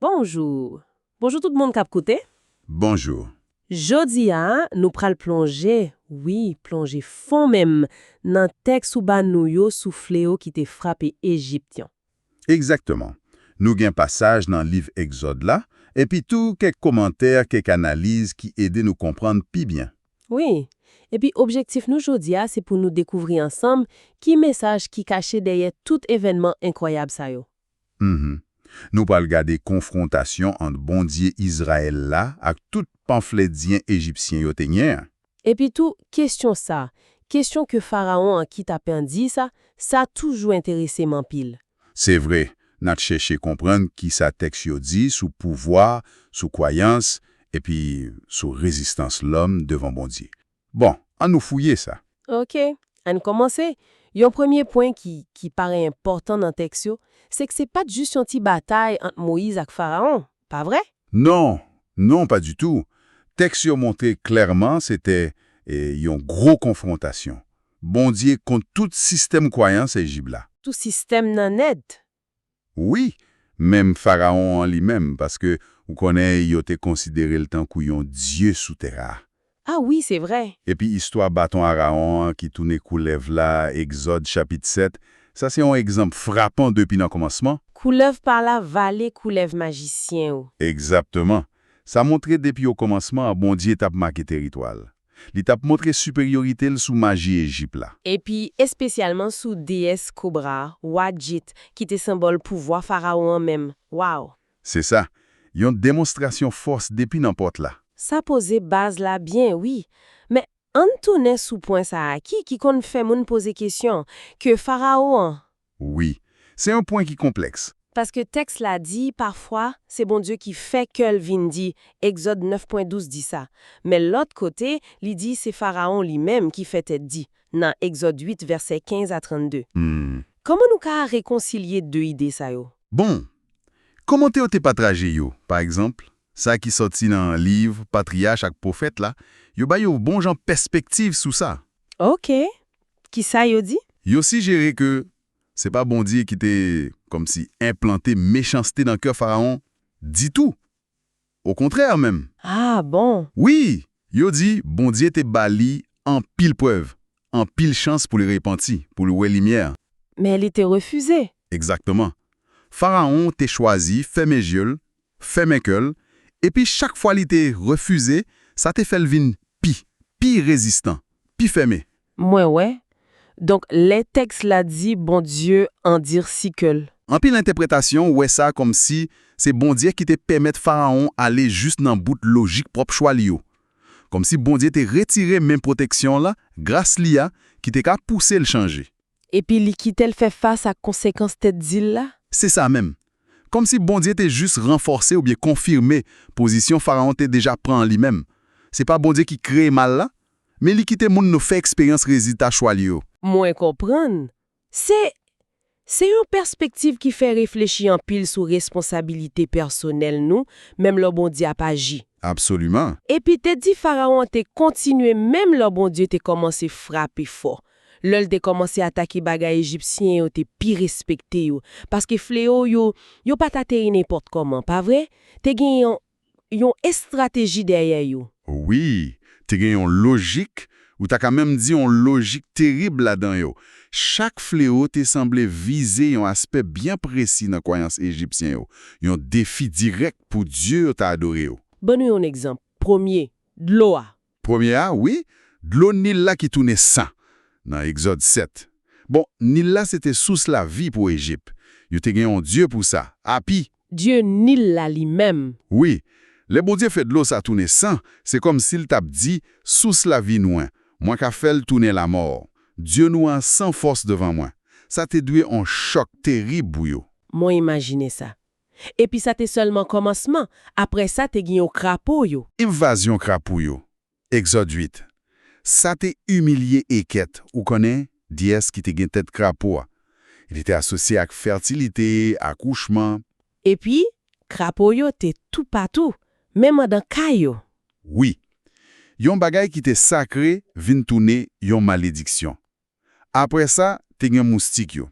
Bonjour! Bonjour tout moun kap koute. Bonjour! Jodi a nou pral plonje, wi plonje fon menm nan tèks ou ba nou yo sou fleo ki te frape Ejipt yon. Egzakteman. Nou gen pasaj nan liv Egzòd la, epi tou kèk komantè, kèk analiz ki ede nou konprann pi byen. Wi. Epi objektif nou jodi a se pou nou dekouvri ansanm ki mesaj ki kache dèyè tout evènman enkwayab sa yo. Mph. Nou pral gade konfwontasyon ant Bondye Izrayèl la ak tout panflèdyen Ejipsyen yo te nye an. Epitou, kesyon sa, kesyon ke Farawon an ki ta pendye sa, sa toujou enterese m anpil. Se vre, n ap chèche konprann ki sa tèks yo di sou pouvwa, sou kwayans, epi sou rezistans lòm devan Bondye. Bon, an nou fouye sa. Ok. An n kòmanse. Yon premye pwen ki ki parè enpòtan nan tèks yo, se k se pa t jis yon ti batay ant Moyiz ak Farawon, pa vre? Non, non, pa ditou. Tèks yo montre klèman se te e yon gwo konfwontasyon Bondye kont tout sistèm kwayans Ejib la. Tout sistèm nan nèt, Wi, menm Farawon an li menm, paske, ou konnen, yo te konsidere l tankou yon dye sou tè a. A wi, se vre! Epi istwa baton Arawon an ki tounen koulèv la, Egzòd, chapit 7, sa se yon egzanp frapan depi nan kòmansman. Koulèv pa la vale koulèv majisyen yo. Egzatteman! Sa montre depi okòmansman an Bondye t ap make teritwa l. Li t ap montre siperyorite l sou maji Ejip la. Epi espesyalman sou deyès kobra a, Wadjit, ki te senbòl pouvwa Farawon an menm. Waww! Se sa, yon demonstrasyon fòs depi nan pòt la. Sa poze baz la byen, wi. Men, ann tounen sou pwen sa a ki ki konn fè moun poze kesyon, ke Farawo an, Wi. Se yon pwen ki konplèks. Paske tèks la di, pafwa, se Bondye ki fè kè l vin di, Egzòd 9 pwen 12 di sa. Men lòt kote, li di se Farawon li menm ki fè tèt di, nan Egzòd 8 vèsè 15 a 32. Kòman nou ka rekonsilye de ide sa yo? Bon! Kòmantè yo te patraje yo, pa egzanp, sa ki sòti nan liv Patriyach ak Pwofèt la, yo bay yon bon jan pèspektiv sou sa. Ok! Kisa yo di? Yo sijere ke se pa Bondye ki te kòmsi enplante mechanste nan kè Farawon ditou. Okontrè menm! Ah bon! Wi! Yo di Bondye te ba li anpil prèv, anpil chans pou li repanti, pou li wè limyè. Men li te refize. Egzakteman. Farawon te chwazi fèmen je l fèmen kè l, epi chak fwa li te refize, sa te fè l vin pi, pi rezistan, pi fèmen. Mwen wè. Donk, lè tèks la di Bondye andirsi kè l. Anpil entèpretasyon wè sa kòmsi se Bondye ki te pèmèt Farawon ale jis nan bout lojik pwòp chwa li yo. Kòmsi Bondye te retire men pwoteksyon l, gras li a, ki te ka pouse l chanje. Epi li kite l fè fas ak konsekans tèt di l la? Se sa menm. Kòmsi Bondye te jis ranfòse oubyen konfime pozisyon Farawon te deja pran an li menm. Se pa Bondye ki kreye mal la, men li kite moun nou fè eksperyans rezilta chwa li yo. Mwen konprann. Se Se yon pèspektiv ki fè reflechi anpil sou responsabilite pèsonèl nou menm lò Bondye ap aji. Absoliman. Epi tèt di Farawon an te kontinye menm lò Bondye te kòmanse frape fò. Lè l te kòmanse atake bagay Ejipsyen yo te pi respekte yo, paske fleo yo yo pa t ateri nenpòt kòman, pa vre? Te gen yon yon estrateji dèyè yo. Wi, te gen yon lojik, ou ta ka menm di yon lojik terib ladan yo. Chak fleo te sanble vize yon aspè byen presi nan kwayans Ejipsyen yo, yon defi dirèk pou dye yo t adore yo. Ban nou yon egzanp. Premye, dlo a. Premye a, wi, dlo Nil la ki tounen san, nan Egzòd 7. Bon, Nil la se te sous lavi pou Ejip. Yo te gen yon dye pou sa, Api. Dye Nil la li menm. Wi, lè Bondye fè dlo sa tounen san, se kòmsi l t ap di, Sous lavi nou an, mwen ka fè l tounen lamò. Dye nou an san fòs devan mwen. Sa te dwe yon chòk terib pou yo. Mwen imajine sa. Epi sa te sèlman kòmansman, apre sa te gen yon krapo yo. Envazyon krapo yo, Egzòd 8. Sa te imilye Ekèt, ou konnen, dyès ki te gen tèt krapo a. Li te asosye ak fètilite, akouchman. Epi, krapo yo te toupatou, menm andan kay yo. Wi. Yon bagay ki te sakre vin tounen yon malediksyon. Apre sa, te gen moustik yo.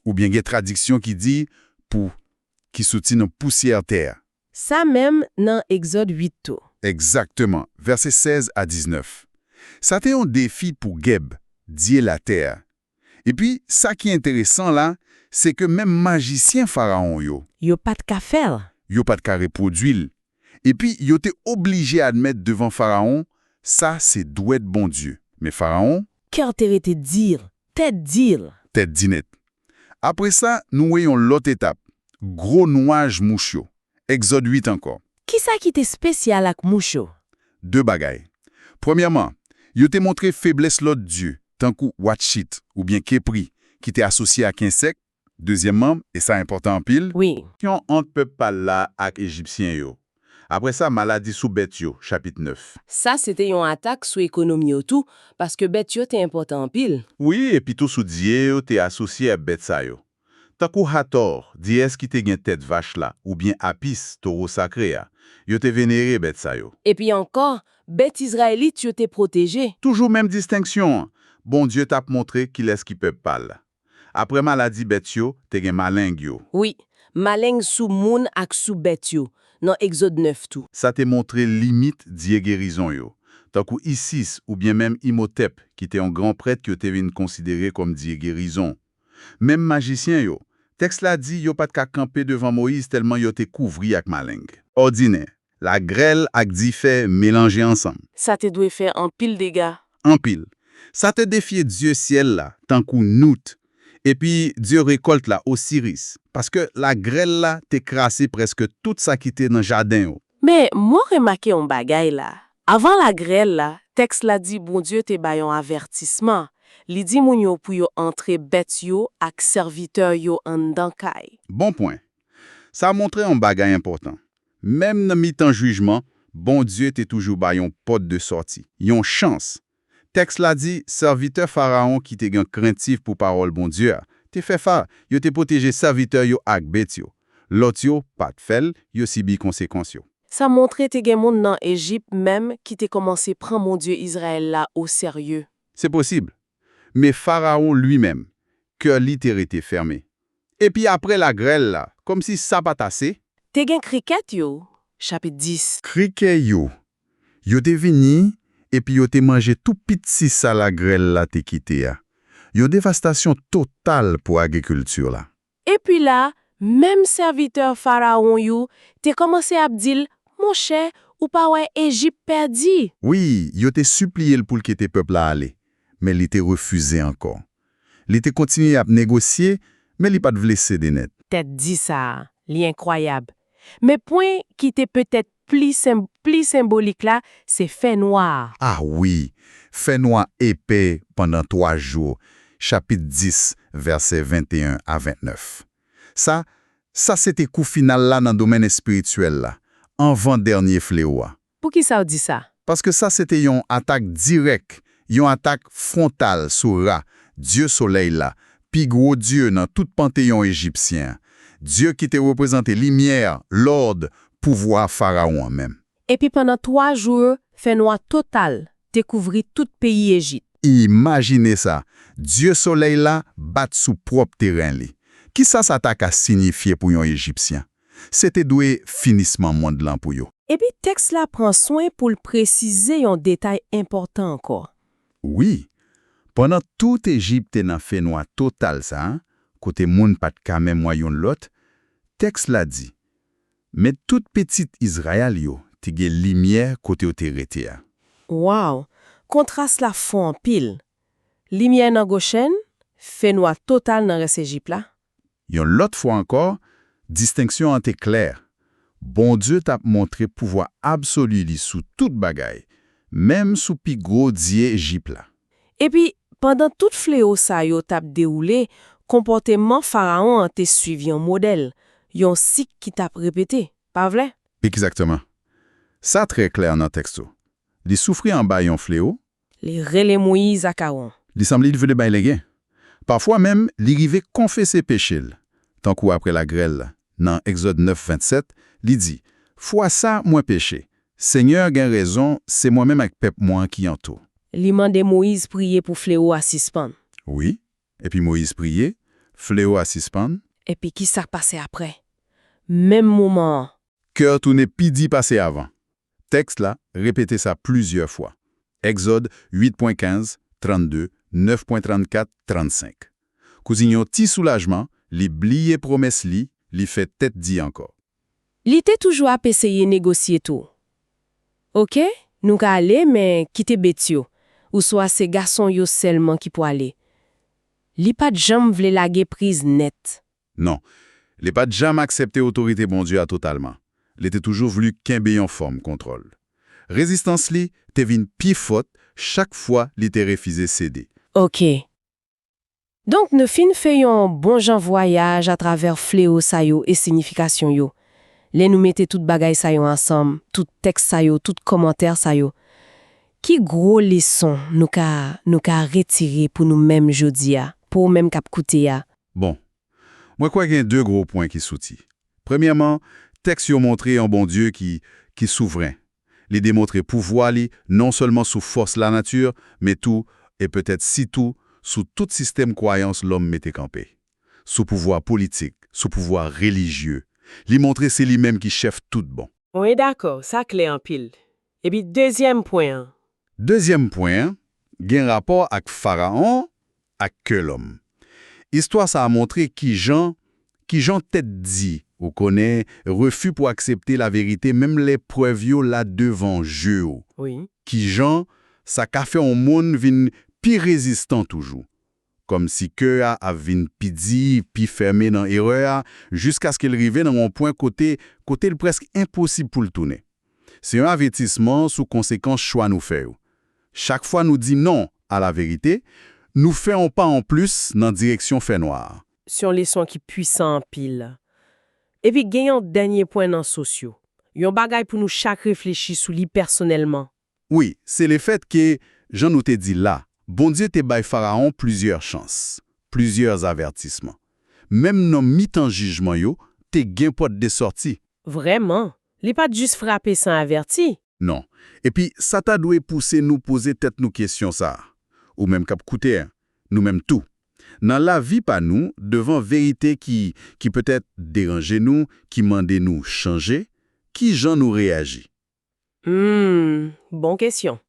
Oubyen gen tradiksyon ki di pou ki soti nan pousyè tè a. Sa menm nan Egzòd 8 tou. Egzakteman, vèsè 16 a 19. Sa te yon defi pou Geb, dye latè a. Epi, sa ki enteresan la, se ke menm majisyen Farawon yo. Yo pa t ka fè l. Yo pa t ka repwodui l, Epi, yo te oblije admèt devan Farawon, Sa se dwèt Bondye. Men Farawon. Kè l te rete dir, tèt di l. Tèt di nèt. Apre sa, nou wè yon lòt etap, gwo nwaj mouch yo. Egzòd 8 ankò. Ki sa ki te spesyal ak mouch yo? De bagay. Premyèman, yo te montre feblès lòt dye, tankou Watchit oubyen Kepri, ki te asosye ak ensèk, Dezyèmman, e sa enpòtan anpil. Wi. Syon ant pèp pa l la ak Ejipsyen yo. Apre sa, maladi sou bèt yo, chapit 9. Sa se te yon atak sou ekonomi yo tou, paske bèt yo te enpòtan anpil. Wi, epitou sou dye yo te asosye a bèt sa yo. Tankou Hatò, dyès ki te gen tèt vach la, oubyen Apis, towo sakre a. Yo te venere bèt sa yo. Epi ankò, bèt Izrayelit yo te pwoteje. Toujou menm distenksyon an, Bondye t ap montre kilès ki pèp pa l. Apre maladi bèt yo, te gen maleng yo. Wi, maleng sou moun ak sou bèt yo, nan Egzod 9 tou. Sa te montre limit dye gerizon yo, tankou Isis oubyen menm Imhotep ki te yon gran prèt yo te vin konsidere kòm dye gerizon. Menm majisyen yo, tèks la di yo pa t ka kanpe devan Moyiz tèlman yo te kouvri ak maleng. Òdinè, Lagrèl ak dife melanje ansanm. Sa te dwe fè anpil dega. Anpil. Sa te defye dye syèl la, tankou Nout, epi dye rekòlt la, Osiris, paske lagrèl la te krase prèske tout sa ki te nan jaden yo. Men, mwen remake yon bagay la. Avan lagrèl la, tèks la di Bondye te bay yon avètisman, li di moun yo pou yo antre bèt yo ak sèvitè yo anndan kay. Bon pwen. Sa montre yon bagay enpòtan, Menm nan mitan jijman, Bondye te toujou bay yon pòt de sòti, yon chans. Tèks la di, Sèvitè Farawon ki te gen krentif pou pawòl Bondye a, te fè fa, yo te pwoteje sèvitè yo ak bet yo. Lòt yo pa t fè l, yo sibi konsekans yo. Sa montre te gen moun nan Ejip menm ki te kòmanse pran Bondye Izrayèl la oserye. Se posib. Men Farawon limenm, kè li te rete fèmen. Epi apre lagrèl la, kòmsi sa pa t ase. Te gen krikèt yo, chapit 10. Krikè yo. Yo te vini epi yo te manje tou pitsi sa lagrèl la te kite a. Yon devastasyon total pou agrikilti la. Epi la, menm sèvitè Farawon yo te kòmanse ap di l, Monchè, ou pa wè Ejip pèdi? Wi, yo te sipliye l pou l kite pèp la ale, men li te refize ankò. Li te kontinye ap negosye, men li pa t vle sede nèt. Tèt di sa a, li enkwayab. Men pwen ki te petèt pli senbolik la se fènwa a. A wi! Fènwa epè pandan twa jou, chapit 10, vèsè 21 a 29. Sa, sa se te kou final la nan domèn espirityèl la, anvan dènye flewo a. Poukisa w di sa? Paske sa se te yon atak dirèk, yon atak fwontal sou Ra, dye solèy la, pi gwo dye nan tout panteyon ejipsyen an, dye ki te reprezante limyè, lòd, pouvwa Farawon an menm. Epi pandan twa jou yo, fènwa total te kouvri tout peyi Ejip. Imajine sa, dye solèy la bat sou pwòp teren li! Kisa sa ta ka sinyifye pou yon Ejipsyen? Se te dwe finisman mond lan pou yo. Epi tèks la pran swen pou l presize yon detay enpòtan ankò. Wi, pandan tout Ejip te nan fenwa total sa a, kote moun pa t ka menm wè youn lòt, tèks la di, Men tout pitit Izrayèl yo te gen limyè kote yo te rete a. Waww, kontras la fò anpil! Limyè nan Gochèn, fenwa total nan rès Ejip la, Yon lòt fwa ankò, distenksyon an te klè, Bondye t ap montre pouvwa absoli li sou tout bagay, menm sou pi gwo dye Ejip la. Epi, pandan tout flewo sa yo t ap dewoule, konpòteman Farawon an te suiv yon modèl, yon sik ki t ap repete, pa vre? Egzakteman. Sa trè klè nan tèks yo. Li soufri anba yon flewo, Li rele Moyiz ak Awon. Li sanble li vle bay legen. Pafwa menm, li rive konfese peche l. Tankou apre lagrèl la, nan Egzòd 9, 27, li di, Fwa sa, mwen peche. Senyè a gen rezon, se mwen menm ak pèp mwen an ki an tou. Li mande Moyiz priye pou flewo a sispann. Wi. Epi Moyiz priye, flewo a sispann. Epi ki sa k pase apre? Menm moman an, Kè tounen pi di pase avan. Tèks la repete sa plizyè fwa, Èkzòd 8,15, 32, 9,34, 35. Kouzin yon ti soulajman, li bliye pwomès li, li fè tèt di ankò. Li te toujou ap eseye negosye tou. Oke, nou ka ale, men kite bet yo, ouswa se gason yo sèlman ki pwale. Li pa t janm vle lage priz nèt. Non, li pa t janm aksepte otorite Bondye a totalman. Li te toujou vlu kenbe yon fòm kontwòl. Rezistans li te vin pi fòt chak fwa li te refize sede. Oke. Donk nou fin fè yon bon jan vwayaj atravè flewo sa yo e sinifikasyon yo. Lè nou mete tout bagay sa yo ansanm, tout tèks sa yo, tout kòmantè sa yo, ki gwo leson nou ka nou ka retire pou nou menm jodi a, pou ou menm k ap koute a? Bon, mwen kwè gen de gwo pwen ki soti. Premyèman, tèks yo montre yon Bondye ki ki souvren. Li demontre pouvwa li non sèlman sou fòs lanati, men tou, e petèt sitou, sou tout sistèm kwayans lòm mete kanpe. Sou pouvwa politik, sou pouvwa relijye. Li montre se li menm ki chèf tout bon. Mwen dakò, sa klè anpil. Epi dezyèm pwen an? Dezyèm pwen an gen rapò ak Faraon ak kè lòm. Istwa sa a montre ki jan ki jan tèt di, ou konnen, refi pou aksepte laverite menm lè prèv yo la devan je ou, ki jan sa ka fè yon moun vin pi rezistan toujou. Kòmsi kè a ap vin pi di, pi fèmen nan erè a, jiskaske l rive nan yon pwen kote kote l prèsk enposib pou l tounen. Se yon avètisman sou konsekans chwa nou fè yo. Chak fwa nou di non a laverite, nou fè yon pa anplis nan direksyon fènwa a. Se yon leson ki puisan anpil. Epi gen yon dènye pwen nan sous yo, yon bagay pou nou chak reflechi sou li pèsonèlman Wi, se lefèt ke, jan nou te di la, Bondye te bay Faraon plizyè chans, plizyè avètisman. Menm nan mitan jijman yo, te gen pòt de sòti. Vrèman! Li pa t jis frape san avèti. Non. Epi sa ta dwe pouse nou poze tèt nou kesyon sa a, ou menm k ap koute, nou menm tou. Nan lavi pa nou, devan verite ki, ki petèt deranje nou, ki mande nou chanje, kijan nou reyaji? Humm bon kesyon.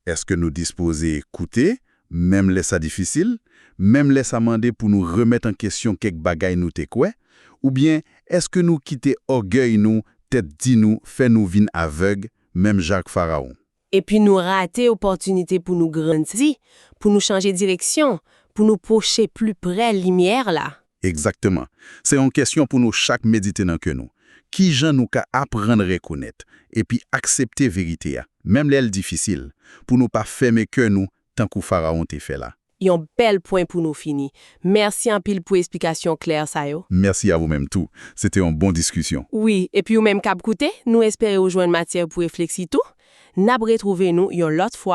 Èske nou dispoze koute, menm lè sa difisil, menm lè sa mande pou nou remèt an kesyon kèk bagay nou te kwè? Oubyen èske nou kite ògèy nou, tèt di nou, fè nou vin avèg, menm jan ak Farawon? Epi nou rate opòtinite pou nou grandi, pou nou chanje direksyon, pou nou pwoche pli prè limyè la? Egzakteman. Se yon kesyon pou nou chak medite nan ke nou. Kijan nou ka aprann rekonèt epi aksepte verite a, menm lè l difisil, pou nou pa fèmen kè nou tankou Farawon te fè la? Yon bèl pwen pou nou fini. Mèsi anpil pou esplikasyon klè sa yo. Mèsi a wou menm tou. Se te yon bon diskisyon. Wi, epi ou menm k ap koute, nou espere ou jwenn matyè pou refleksi tou. N ap retwouve nou yon lòt fwa.